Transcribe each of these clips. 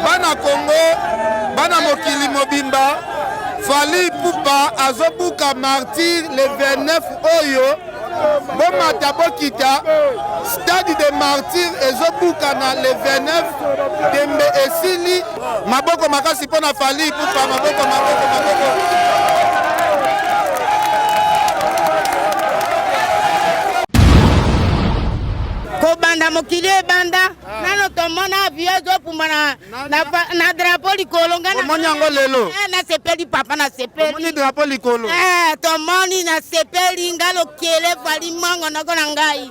Bana Congo, bana mokili mobimba, Fally Ipupa azobuka martyr le 29 oyo bomata bokita stade de martyr ezobukana le 29 tembe esili Maboko makasi mpo na Fally Ipupa, maboko maboko maboko. kobanda mokili ebanda ah. nano tomona avio ezokumba na drapo likolo ngamoni yango lelo eh, nasepeli papa nasepeli drapo likolo eh, tomoni nasepeli nga lokele fali mango nako na ngai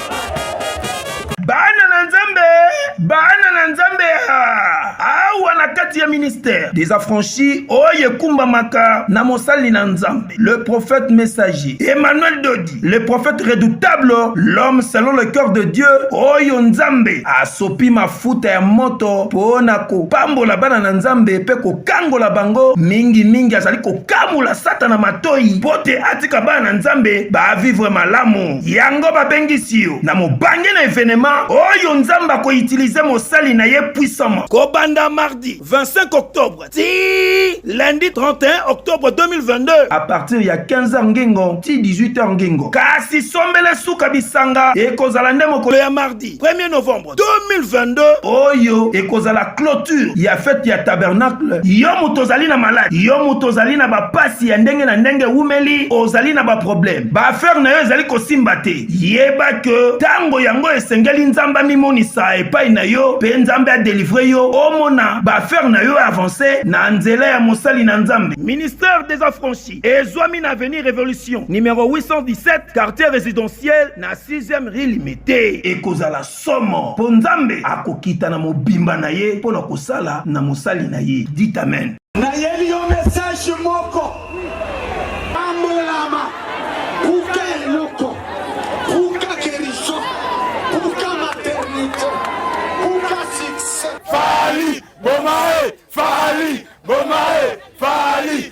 Bana na Nzambe, bana na Nzambe awa na kati ya ministère des affranchis oyo ekumbamaka na mosali na Nzambe, le prophète messager Emmanuel Dodi, le prophète redoutable, l'homme selon le cœur de Dieu, oyo Nzambe asopi mafuta ya moto mpo na kopambola bana na Nzambe mpe kokangola bango mingi mingi, azali kokamula Satana matoi mpo te atika bana na Nzambe ba vivre malamu. yango babengisi yo na mobange na evenema oyo nzambe akoutilize mosali na ye puissamment kobanda mardi 25 octobre ti lundi 31 octobre 2022 a partir ya 15h ngengo ti 18h ngengo kasi sombele suka bisanga ekozala nde mokolo ya mardi 1er novembre 2022 oyo ekozala clôture ya fete ya tabernacle yo moto ozali na maladi yo moto ozali na bapasi ya ndenge na ndenge ewumeli ozali na baproblème baaffaire na yo ezali kosimba te yeba ke ntango yango esengeli nzambe amimonisa epai na yo mpe nzambe adelivre yo omona baaffaire na yo avance na nzela ya mosali na nzambe ministère des affranchis Ezwami na avenue Revolution numero 817 quartier residentiel na 6e rue Limete. Ekozala somo mpo Nzambe akokita na mobimba na ye mpo na kosala na mosali na ye. Dit amen. Nayeli yo message moko. Pambolama. Buka eloko. Buka guérison. Buka maternité. Buka succès. Fally bomae Fally bomae Fally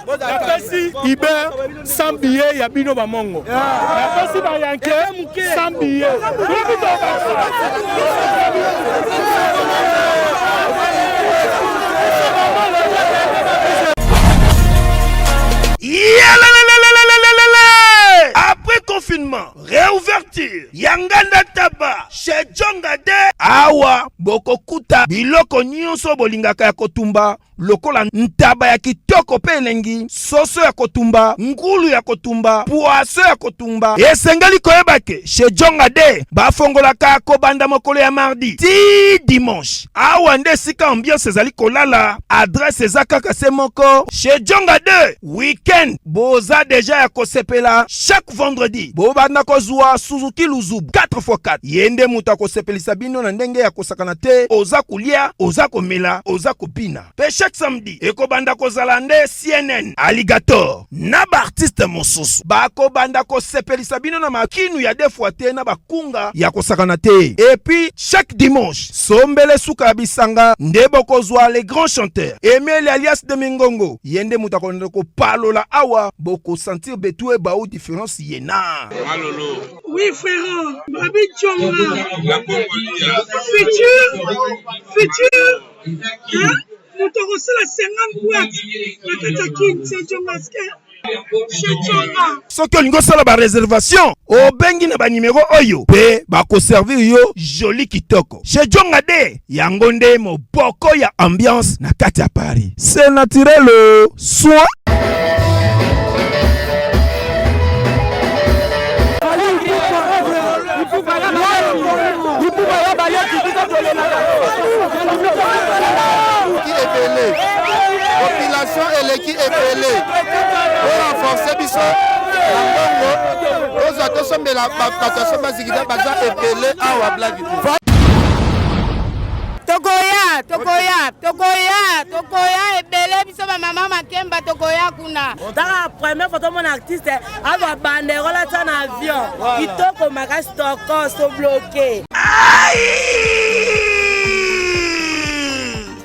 napesi iber sans billet ya bino bamongo napesi bayanke sans billet Après confinement, réouverture, Yanganda Taba, chez Djongade, Awa, Bokokuta, Biloko Nyonso Bolingaka ya Kotumba, lokola ntaba ya kitoko mpe elengi, soso ya kotumba, ngulu ya kotumba, pwaso ya kotumba. Esengeli koyeba ke chez Jonga de bafongolaka kobanda mokolo ya mardi ti dimanche. Awa nde esika ambiance ezali kolala. Adresse eza kaka se moko chez Jonga de. weekend boza deja ya kosepela chaque vendredi bobanda kozwa suzuki luzubu 4x4 ye nde moto akosepelisa bino na ndenge ya kosakana te oza kolia oza komela oza kobina mpe chaque samedi ekobanda kozala nde cnn alligator na baartiste mosusu bakobanda kosepelisa bino na makinu ya defwa te na bakunga ya kosakana te epuis chaque dimanche sombele suka ya bisanga nde bokozwa le grand chanteur emeli alias de mingongo Ye nde moto akolanda kopalola awa boko sentir betue bao difference ye na malolo. Oui frère, Babi Tshonga. La Congolia. Futur, futur, hein? Moto akosala 50 boîtes na kati ya Kin, c'est Djongaske. soki olingi osala bareservation obengi na banimero oyo mpe bakoservir yo joli kitoko chez jongade yango nde moboko ya ambiance na kati ya paris se naturel soin population eleki ebele po renforce biso na mbongo tozwa tosombela bato ya somba zikida baza ebele awa bladi tokoya tokoya tokoya tokoya ebele biso bamama makemba tokoya kuna taka premier foto mona artiste azwa bandero latya na avion kitoko makasi toko sobloke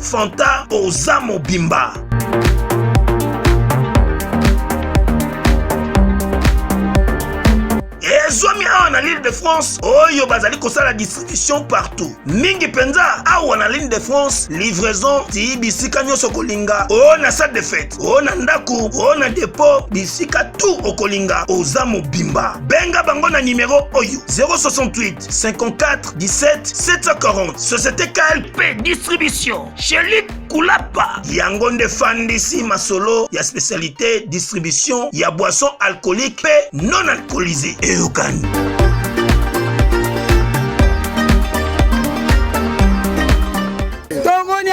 Fanta oza mobimba. ezwami awa na l'île de france oyo bazali kosala distribution partout mingi mpenza awa na l'île de france livraison ti bisika nyonso okolinga o na salle de fete o na ndako o na depot bisika tu okolinga oza mobimba benga bango na nimero oyo 068 54 17 740 société KLP distribution chez Luc Kulapa yango nde fandisi masolo ya spécialité distribution ya boisson alcoolique mpe non alcoolisé eyokani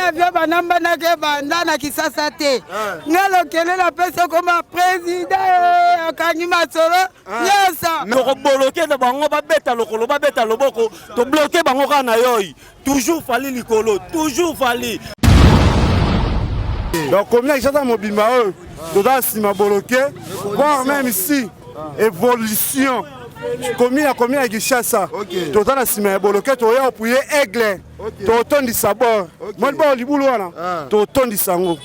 avio banambanaki ebanda na kisasa te eh. nga lokele napesi okoma président eh, akangi masolo tokoboloke na bango babeta lokolo babeta loboko tobloke bango kaka na yoi toujours fali likolo toujours fali donc komia ishata mobimba oyo toza nsima boloke voir même ici évolution komi ya komi ya kinshasa toza na nsima ya boloke toya opuye aigle totondisa bor moni bor libulu wana ah. totondisa yango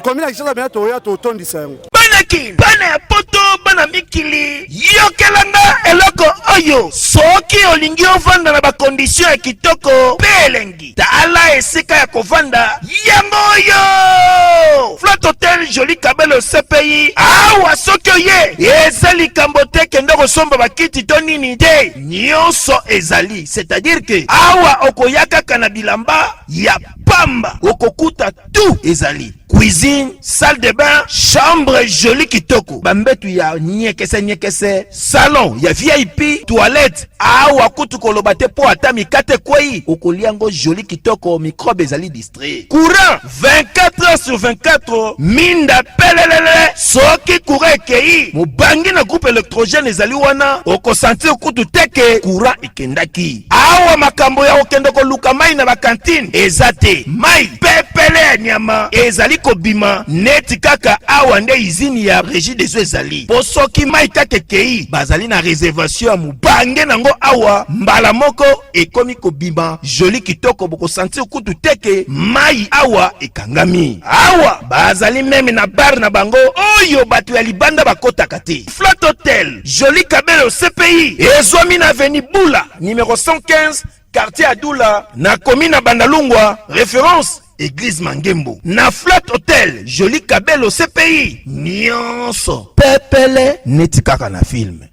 komina kisasa bena toya totondisa yango bana kin bana ya poto bana mikili yokelanga eloko oyo soki olingi ovanda na bakondisio ya kitoko mpe elengi tala esika ya kovanda yango oyo flot hotel joli kabelo cpi awa soki oye eza likambo te kende kosomba bakiti to nini te nyonso ezali c'est-à-dire que awa okoya kaka na bilamba ya pamba okokuta tout ezali cuisine salle de bain chambre jolie kitoko bambetu ya nyekese nyekese salon ya vip toilette awa kutu koloba te mpo ata mikate ekwei okolia yango jolie kitoko mikrobe ezali courant 24 heures sur 24 minda pelelele soki courant ekei mobangi na groupe électrogène ezali wana okosentir kutu te ke courant ekendaki awa makambo ya kokende koluka mai na bakantine eza te mai pepele ya nyama ezali kobima neti kaka awa nde izini ya régie des eaux ezali mpo soki mai kaka ekei bazali na réservation ya mobange nango awa mbala moko ekomi kobima joli kitoko bokosantir kutu te ke mai awa ekangami awa bazali meme na bare na bango oyo bato ya libanda bakotaka te flat hotel joli kabelo cpi ezwami na aveni bula numero 115 quartier adula na komi na bandalungwa reference eglise mangembo na flat hotel joli kabelo cpi nyonso pepele neti kaka na filme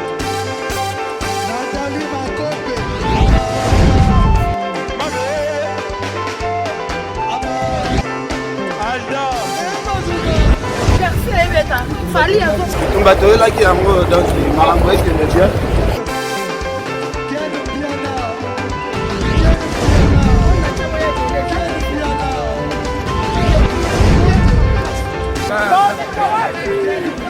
tumba toyelaki yango donc makambo ekende bien Bom,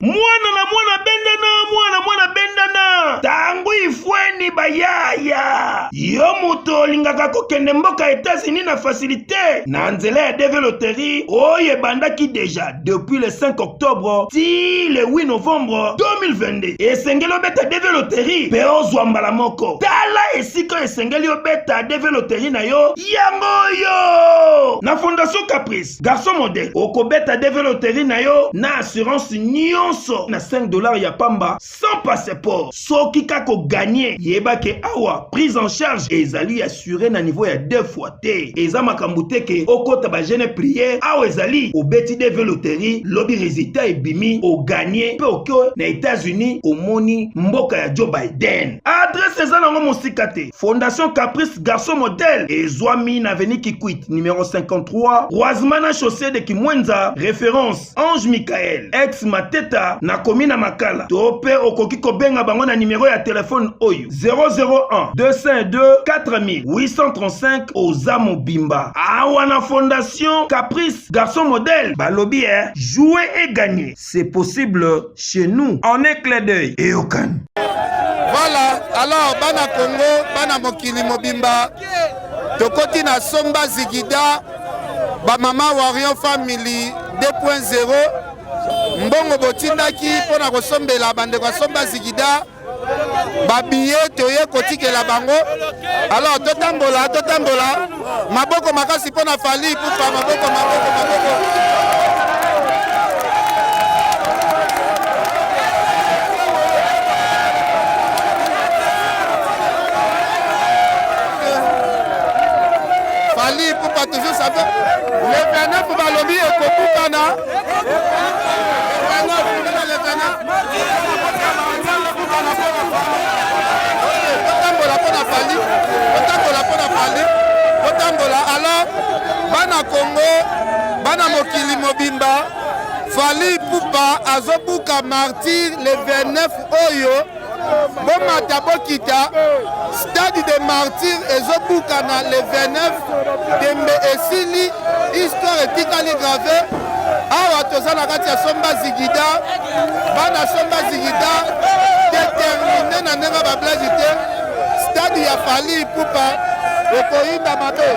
mwana na mwana bendana mwana mwana bendana tango ifweni bayaya yo moto olingaka kokende mboka etats-unis na fasilite na nzela ya deve loterie oyo ebandaki deja depuis le 5 octobre ti le 8 novembre 2022 esengeli obeta deve loterie mpe ozwa mbala moko tala esika esengeli obeta deve loterie na yo yango oyo na fondation caprice Garçon modèle, okobeta DV loterie na yo na assurance nyonso na 5 dollars ya pamba sans passeport. Soki kaka oganye, yeba ke awa prise en charge ezali assurée na niveau ya deux fois te. Eza makambo te ke okota ba jeune prière, awa ezali obeti DV loterie, lobi resultat ebimi, oganye pe oke na Etats-Unis, omoni mboka ya Joe Biden. Adresse eza nango mosika te. Fondation Caprice Garçon Modèle ezwami na avenue Kikwit numéro 53 croisement na chaussée de Kimwenza référence Ange Michael ex Mateta na commune ya Makala to mpe okoki kobenga bango na numéro ya telefone oyo 001 202 4835 oza mobimba awa na Fondation Caprice Garçon Modèle balobi eh jouer et gagner c'est possible chez nous en un clé d'œil eyokani voilà alors bana congo bana mokili mobimba tokoti na somba zigida bamama warion family 2.0 mbongo botindaki mpo na kosombela bandeko ya somba zigida babiye toye kotikela bango alors totambola totambola maboko makasi mpo na fali kufa maboko maboko maboko fali kufa toujours ça le 29 balobi ekobukana bana kongo bana mokili mobimba fali pupa azobuka martire le 29 oyo bomata bokita stade de martyr ezobukana le 29 tembe esili histoire etikali grave awa toza na kati ya somba zigida bana somba zigida determine na ndenge bablage te stade ya fali pupa ekoyinda mabe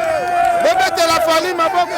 bobetela fali maboko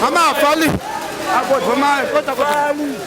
Mama, fali. Fali.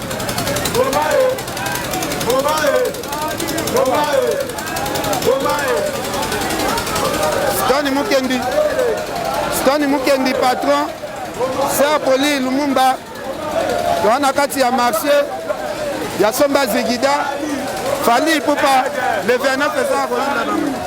Stani Mukendi, Stani Mukendi patron, Sir Poli Lumumba, toa na kati ya marché ya Somba Zigida, Fally Ipupa, le 29 eza kolanda bango.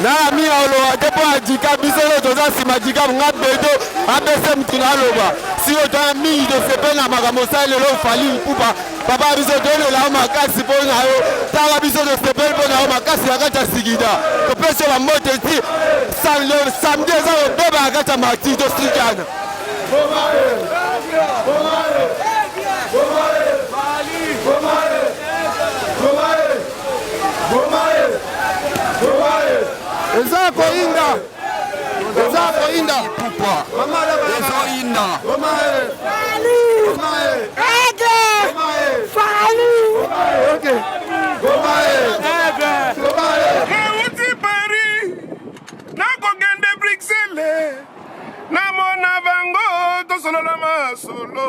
na ami ya oloba te mpo ya dikab biso oyo toza nsima dikab nga bedo abese motu na aloba sio tana mingi tosepeli na makambo osali lelo ofali mpupa papa ya biso tolela yo makasi mpo na yo tala biso tosepeli mpo na yo makasi na kati ya sigida topesi yo bambote ti samedi eza kobeba na kati ya marti tosikana eza koyinda eza koyinda ezoyinda nauti paris nakokende bruxelles namona bango tosolola masolo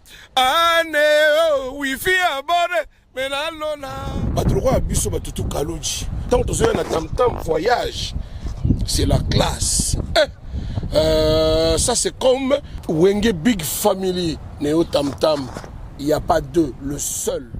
ane oh, wifi abone menalona bato lokola biso bato tu kaloji ntango tozoya na tamtam voyage c'est la classe eh, euh, ça c'est comme wenge big family neo tamtam il n'y a pas deux le seul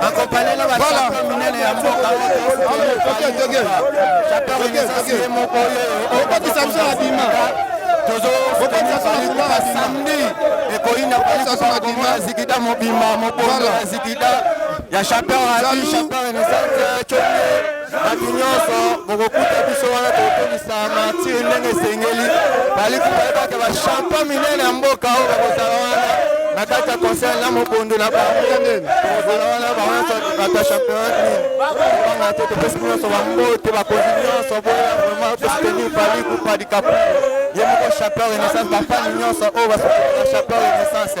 Bakopalela ba champion minene ya mboka ye moko oyo okokisa biso na bima tozokokisa samedi ekoyina koyina zikida mobimba mobondo ya zikida ya champion ya champion renaissance bato nyonso bokokuta biso wana tokokokisa martire ndenge esengeli baliki bayebaka bachampa minene ya mboka oyo bakozala wana na kati ya conseil na mobondo na bango tokozala wana bawanso bato ya championnat banga te topesi nyonso bambote bakonzi nyonso boya vraiment tostenir paliku padikapu ye moko champion renaissance bafani nyonso oyo basoaa champion renaissance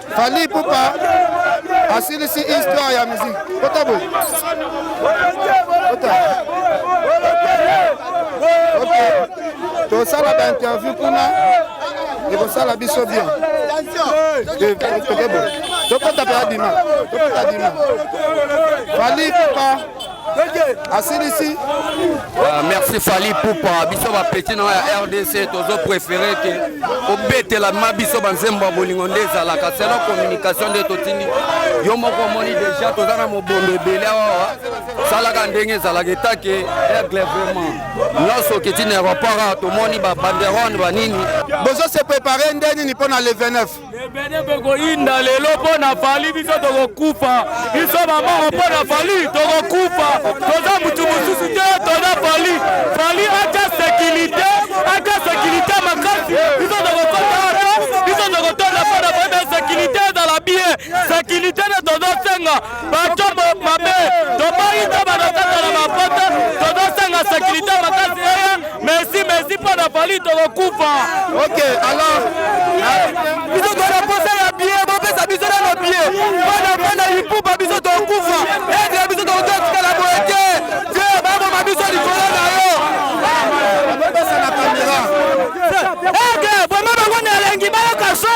Fally Ipupa asilisi histoire ya musique. Kota boye. Kota. Okay. Tosala ba interview kuna ekosala biso bien. Eh, Tokota pe adima. Tokota adima. Fally Ipupa asilisi ah, merci fali pupa biso bapeti na ya rdc tozo préféré ke obetelama biso banzembo ya bolingo nde ezalaka selon communication nde totindi yo moko omoni déjà toza na mobondo ebele awa salaka ndenge ezalaka etake aigle vraiment nyonso okiti na aéroport awa tomoni babanderone banini bozo se prépare nde nini mpo na le 29 ebele mpe koyinda lelo mpo na fali biso tokokufa biso bamoko mpo na fali tokokufa toza motu mosusu te toza fali fali ata sekirite ata sekirite makasi biso tokokota ata biso tokotonda mpo na fali sekirite ezala bie sekirite nde tozosenga bato mabe toboyi to banokata na bapoto tozosanga sekirite makasi eye mesi mesi mpo na fali tokokufa ok alors biso tona posa ya bie bopesa biso nano bie mpona mpona ipupa biso tokufa etre biso tokototikala boye te te baboma biso likolo na yo eke boma bango na elengi bayoka so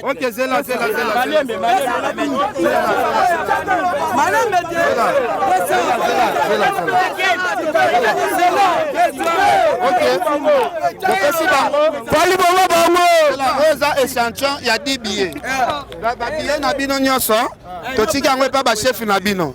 Ok, zela, zela, zela. Malembe, malembe. Malembe, zela. Zela, zela, zela. Ok. Topesi bango. Fali bongo bango. Oyo eza échantillon ya 10 billets. Ba billets na bino nyonso totiki yango epa ba chef na bino.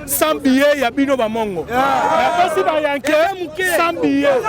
sans billet ya bino bamongo napesi bayanke sans billet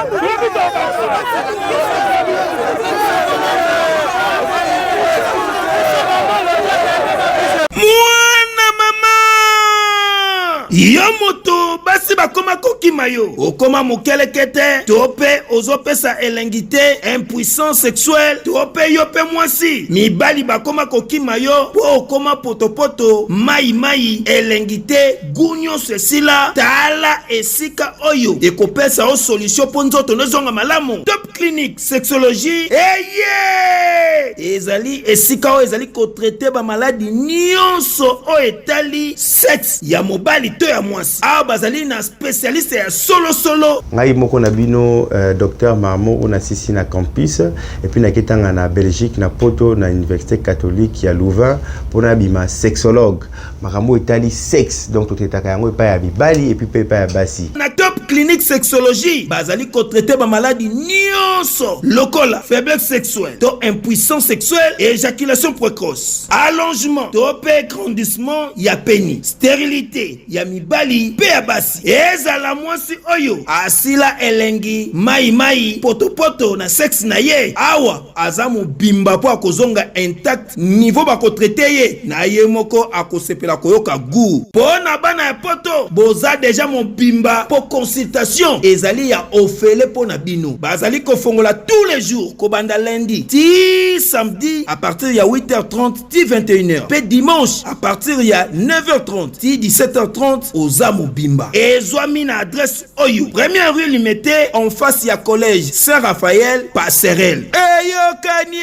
mwana mama yo moto basi bakoma kokima yo okoma mokeleke te to mpe ozopesa elengi te impuissance sexuelle to mpe yo mpe mwasi mibali bakoma kokima yo mpo okoma potopoto mai mai elengi te gu nyonso esila tala esika oyo ekopesa yo solution mpo nzoto nozonga malamu top clinique sexologie eye ezali esika oyo ezali kotraite bamaladi nyonso oyo etali sexe ya mobali to ya mwasi awa bazali na spesialiste ya solosolo ngai moko na bino uh, eh, dr marmo oyo nasisi na campus et puis nake tanga na Belgique na Poto na université catholique ya Louvain pour na bima sexologue makambo etali sexe donc totetaka yango epai ya mibali et puis pe epai ya basi na top clinique sexologie bazali ko traiter ba maladies nionso lokola faiblesse sexuelle to impuissance sexuelle et éjaculation précoce allongement to pe grandissement ya pénis stérilité ya mibali mpe ya basi ezala mwasi oyo asila elengi mai mai potopoto na sexe na ye awa aza mobimba mpo akozonga intact niveau bakotraite ye na ye moko akosepela koyoka gout mpo na bana ya poto boza deja mobimba mpo consultation ezali ya ofele mpo na bino bazali kofongola tous les jours kobanda lundi ti samedi à partir ya 8h30 ti 21h pe dimanche à partir ya 9h30 ti 17h30 oza mobimba ezwami na adresse oyo première rue limete en face ya collège saint raphaël passerelle eyokanie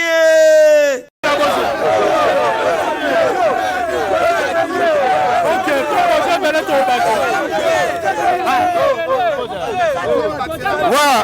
Wow.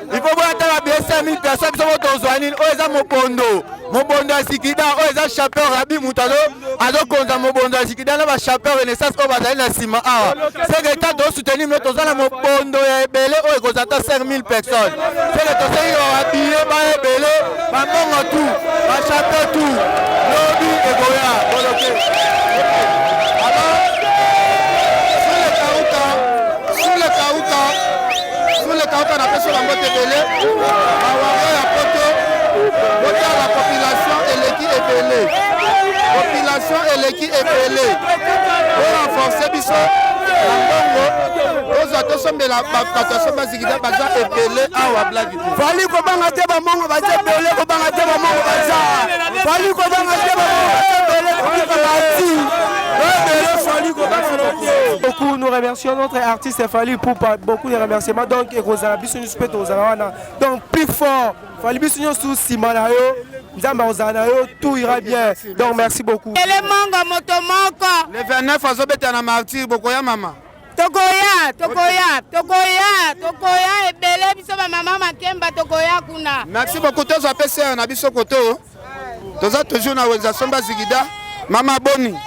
il faut boya tala biesa mi personne soko tozwa nini oyo eza mobondo mobondo ya sikida oyo eza chapeur rabi moto azokonza mobondo ya sikida na bachapeur renaissance oyo bazali na nsima awa seke ta tosoutenir mino toza na mobondo ya ebele oyo ekozala ata 5000 personnes seke tosengi babiye ba ebele bambongo tu bachapeur tu lobi ekoya boloke Sur le Kauka, Sule Kaoka na peso na mbote ebele bawario ya poto botala population eleki ebele population eleki ebele borenforce biso na mbongo tozwa tosombela bato asomba zikida baza ebele awa blagi fali kobanga te bamongo baza ebele kobanga te bamongo baza fali kobanga te bamongo baza ebele kobika bati ebele fali kobanga te beaucoup nous remercions notre artiste c'est Fally Ipupa beaucoup de remerciements donc ekozala biso nyonso mpe tokozala wana donc plus fort Fally biso nyonso nsima na yo nzambe akozala na yo tout ira bien donc merci beaucoup ele mongo moto moko le 29 azobeta na martyr bokoya mama tokoya tokoya tokoya tokoya ebele biso bamama makemba tokoya kuna merci beaucoup tozwa mpe sere na biso koto toza toujours na wenza somba zigida mama boni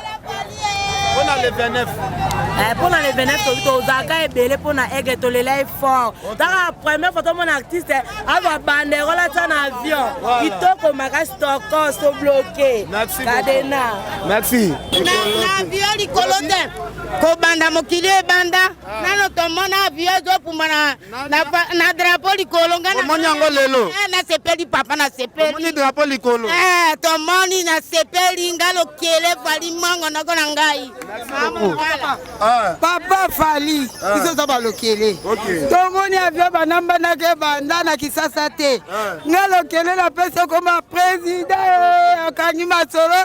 mpona le 29 mpona eh, le 29 tozalaka ebele mpona aigle tolela ye fort taka première fois tomona artiste azwa banderole atya na avion kitoko makasi tokos tobloke kadena merci na avion likolo te kobanda mokili ebanda ah. nano tomona avion ezopumbana na, pa, na drapo likolo nga omoni yango lelo eh, nasepeli papa nasepeli drapo likolo eh, tomoni nasepeli nga lokele fali mango nako na ngai ah. papa fali ah. biso oza balokele tomoni avio banambanaka ebanda na kisasa te ah. nga lokele napesi okoma president eh, akangi masolo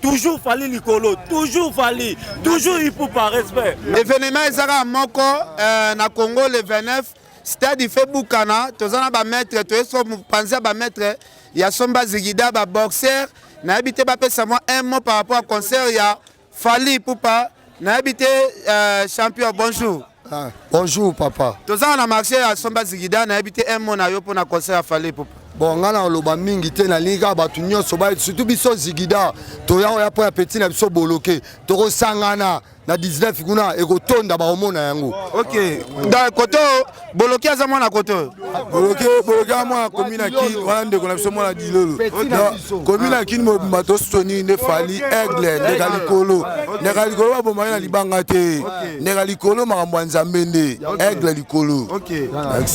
toujours fali likolo toujours fali toujours ipupa respect événement ezaka moko euh, na congo le 29 stade ife bukana toza na bamaître toye so mopanzi ya bamaître ya somba zigida baboxer nayebi te bapesa mwa un mot par rapport ya concert ya fali ipupa nayebi te euh, champion bonjour Ah, bonjour papa. Tozala na marché ya Somba Zigida nayebi te un mot na yo mpo na concert ya Fally Ipupa. Bon ngai nakoloba mingi te nalingi kaka bato nyonso ba surtout biso Zigida toya oya mpo ya petit na biso boloke tokosangana na 19 kuna ekotonda bakomona yango. OK. Da koto boloke aza mwana koto. boloke boloke ya mwana komi na kini wana ndeko na biso mwana dilolo komi na kini mobimba tosoni nde fali aigle ndeka likolo ndeka likolo babomaki na libanga te ndeka likolo makambo ya nzambe nde aigle likolo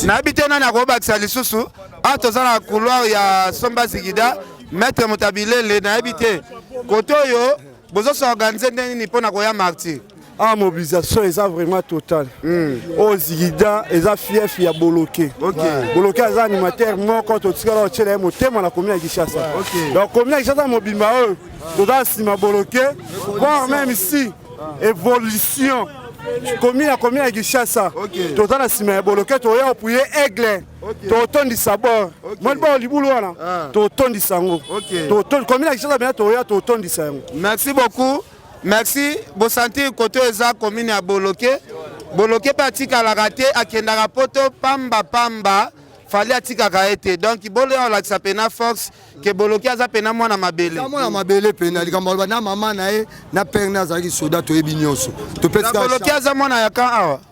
nayebi te nani akobakisa lisusu a toza na couloir ya somba zigida maître motabilele nayebi te kote oyo bozosorganize nde nini mpo na koya martyr Ah, mobilisation eza vraiment total mm. oyo oh, zigida eza fief ya boloke okay. boloke aza animateur moko totikala otyela ye motema na komi ya kinshasa okay. donc komi ya kinshasa mobimba oyo toza nsima boloke voir même si évolution komi na komi ya kinshasa toza na nsima ya boloke toya kopuye aigle totondisa bor moni bao libulu wana ah. totondisa yango komi na kinshasa bena toya totondisa yango merci beaucoup Merci bo sentir koto eza commune ya Boloke Boloke pe atikalaka te akendaka poto pamba pamba fali atikaka ye te donc boloya olakisa pena force ke boloki aza pena mwana mabele mwana mabele pena likambo aloba na mama na ye na pere na azalaki soda toyebi nyonso topesaboloki aza mwana ya kan awa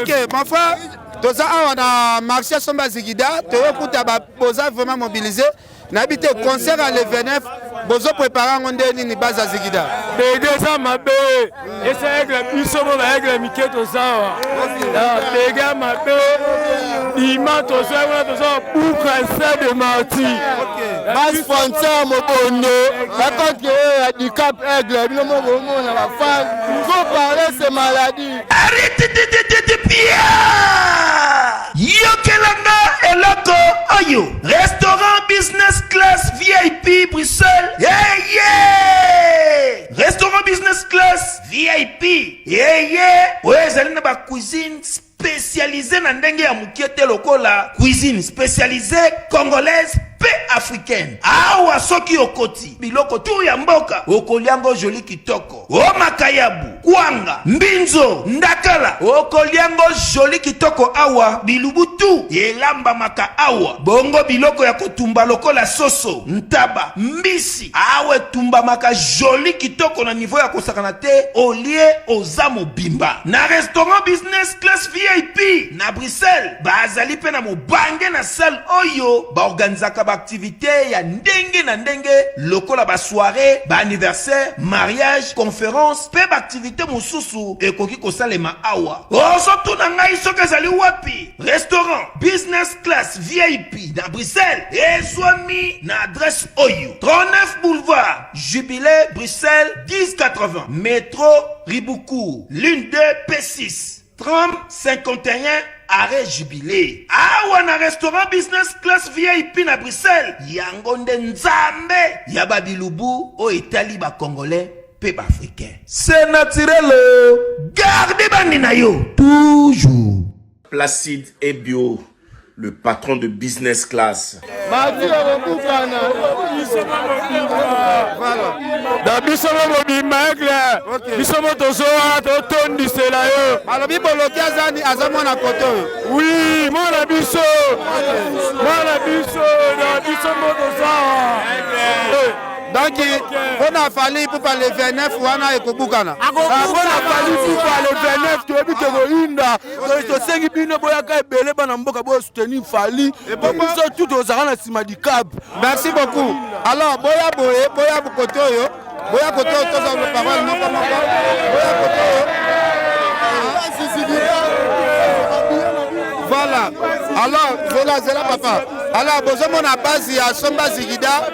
ok mon frère toza awa na marché somba zigida toyokuta boza vraiment mobilise nayebi te concert ya le 29 bozoprépare yango nde nini baza zigida bede eza mabe esa aigle biso mo baaigle mike toza awa bede ya mabe dima toza wana toza babuka ese de marti basponsor mobondo bakontre oyo ya dicap aigle bino mo bomona bafan ko parle se maladie yokelanga eloko oyo restaurant business class vip bruxelles yeah, yeah! restaurant business class vip yeah, yeah! oyo ezali na bacuisine specialise na ndenge ya mukie te lokola cuisine specialise congolaise pe africaine awa soki okoti biloko tu ya mboka okolia ngo joli kitoko o makayabu kwanga mbinzo ndakala okolia ngo joli kitoko awa bilubu tu elambamaka awa bongo biloko ya kotumba lokola soso ntaba mbisi Awa etumbamaka jolie kitoko na niveau ya kosakana te olie oza mobimba na restaurant business class vip na bruxelles bazali mpe na mobange na salle oyo baorganisaka baaktivite ya ndenge na ndenge lokola basoire baanniversaire mariage conference mpe baaktivite mosusu ekoki kosalema awa ozotuna ngai soki ezali wapi Restaurant Business Class VIP na Bruxelles ezwami na adresse oyo 39 boulevard Jubilé Bruxelles 1080 Metro Ribuku ligne 2 P6 30 51 arrêt Jubilé awa na restaurant Business Class VIP na Bruxelles yango nde nzambe ya babilubu oyo etali bakongolais mpe baafricain se naturelo garde bandi na yo toujours Placide Ebio, le patron de business class. na biso mo mobimba aigle biso mo tozowa totondisela yo alobi boloki azani aza mwana kote oyo wi mwana biso mwana biso na biso mo tozawa donc mpo na fali ipupa le 29 wana ekobukana mpo na fali ipupa le 29 toyebi tokoyinda tosengi bino boyaka ebele bana mboka bosoutenir fali po biso tu tozalaka na nsima dicab merci beaucoup alors boya boye boya kote oyo boya kote oyo tozala parole moko moko boya kote oyo voilà alors zela zela papa alors bozomona base ya somba zigida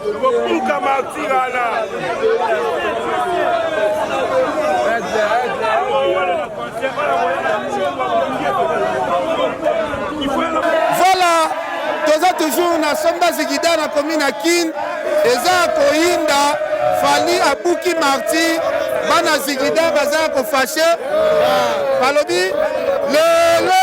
Kobuka martir wana. Voilà, toza toujours na somba zigida na commune ya Kin eza koyinda Fally abuki martir bana zigida baza kofashe balobi lelo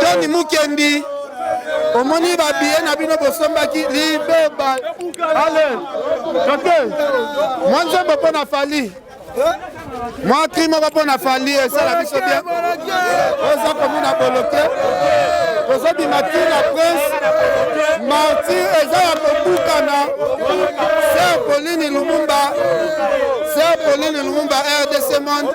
Tony Mukendi omoni babiye na bino bosombaki libeba ale toke mwa nzembo mpo na fali mwa kri moko mpo na fali esala biso bien oza komona boloke tozobima ti na prince marti eza ya kobukana ser polini lumumba ser polini lumumba rdc monde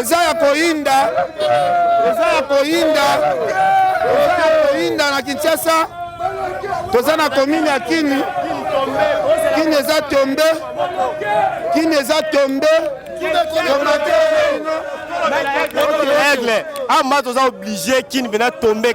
eza ya koyinda eza ya koyinda eza ya koyinda na kinshasa toza na komini ya kini kini eza tombe kini eza tombe aigle ama toza oblige kini mpena tombe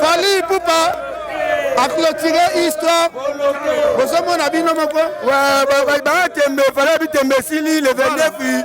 Fali Poupa a clôturé histoire bozomona bino moko batembe fali bitembe esili le 29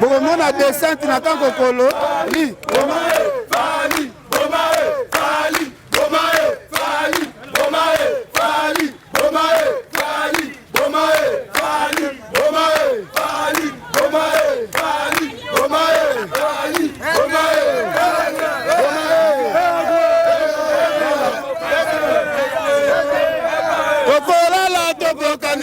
bokomona descente na tango kolo li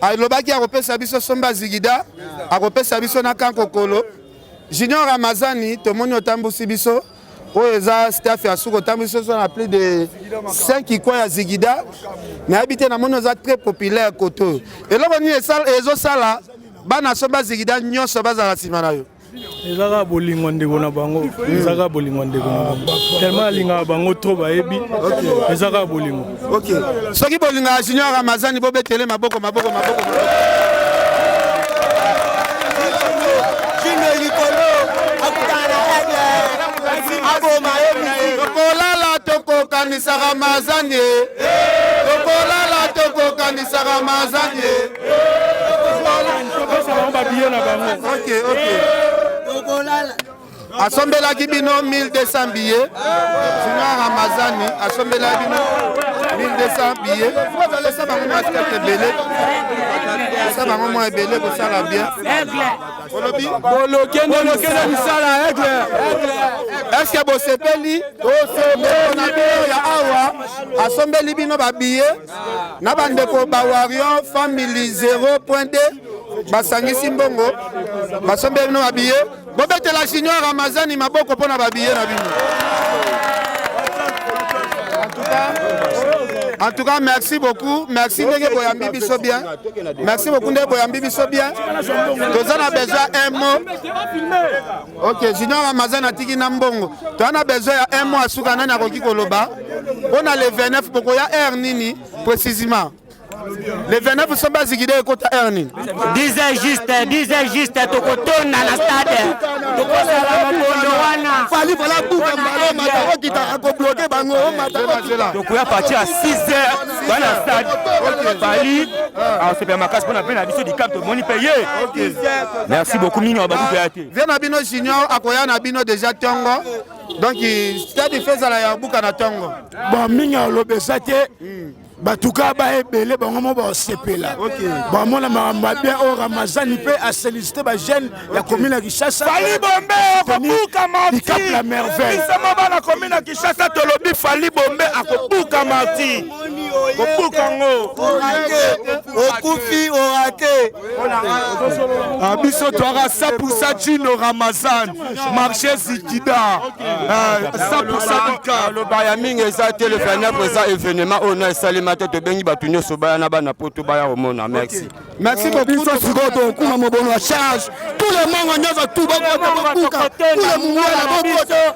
alobaki akopesa biso somba zigida akopesa biso na kankokolo junior ramazani tomoni otambusi biso oyo eza staff ya suka otambusi biso na plus de 5 ikwa ya zigida nayebi te namoni oza très populaire koto eloko nini ezosala bana somba zigida nyonso bazala nsima na yo eza kaka bolingo ndeko na bango eza kaka bolingo ndeko na bango tellement alingaka bango trop bayebi eza kaka bolingo ok soki bolingaka junior ramazani bobetele maboko maboko maboko tokolala tokokanisaka mazani tokolala tokokanisaka mazani asombelaki bino 1200 billet sina ramazani asombelaki bino 1200 billet esa bango mwa skate ebele esa bango mwa ebele kosala bien olobi bolokende misala aigle eske bosepeli tosepeli na bino ya awa asombeli bino babiye na bandeko ba Warrior Family 0.2 basangisi mbongo basombi bino babiye bobetela junior ramazani maboko mpo na babiye na bino En tout cas, merci beaucoup. Merci ndenge boyambi biso bien. Merci beaucoup ndenge boyambi biso bien. Tozana besoin un mot. Ok, Junior Ramazan atiki na mbongo. Toza na besoin ya un mois suka nani akoki koloba mpo na le 29 bokoya heure nini précisément le 29 so bazikide ekota heure nini disait juste disait juste tokotonda na stade tokosala mokondo wana fali vala buka mbalo matakokita akobloke bango tokoya parti ya 6 heures bana stade fali asepela makasi mpo na mpe na biso dicap tomoni mpe ye merci beaucoup mingi bakupe vie na bino junior akoya na bino deja tongo donc stade fe ezala ya buka na tongo bon mingi aloba eza te hmm. batuka baebele bango mo basepela bamona makambo ya bien oyo ramazani mpe aselisite bajeune ya komi na kishasafali bombe akobuka marti la merveille bisama bana komi na kishasa tolobi fali bombe akobuka marti kobuka yango okufi orate Ah, biso toyaka 100% jino ramazan marché zikida 100%aloba ah, ya mingi eza te le 29 eza événement oyo na esalema te tobengi bato nyonso baya na bana poto baya komona merci merci eh, beaucoup biso sikoyo tokuma mobono ya charge tout le monde nyonso tout bakuka tout le mungwela bakuta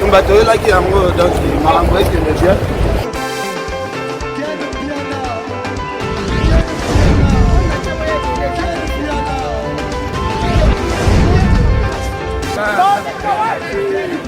tumba toyelaki yango donc makambo ekende bien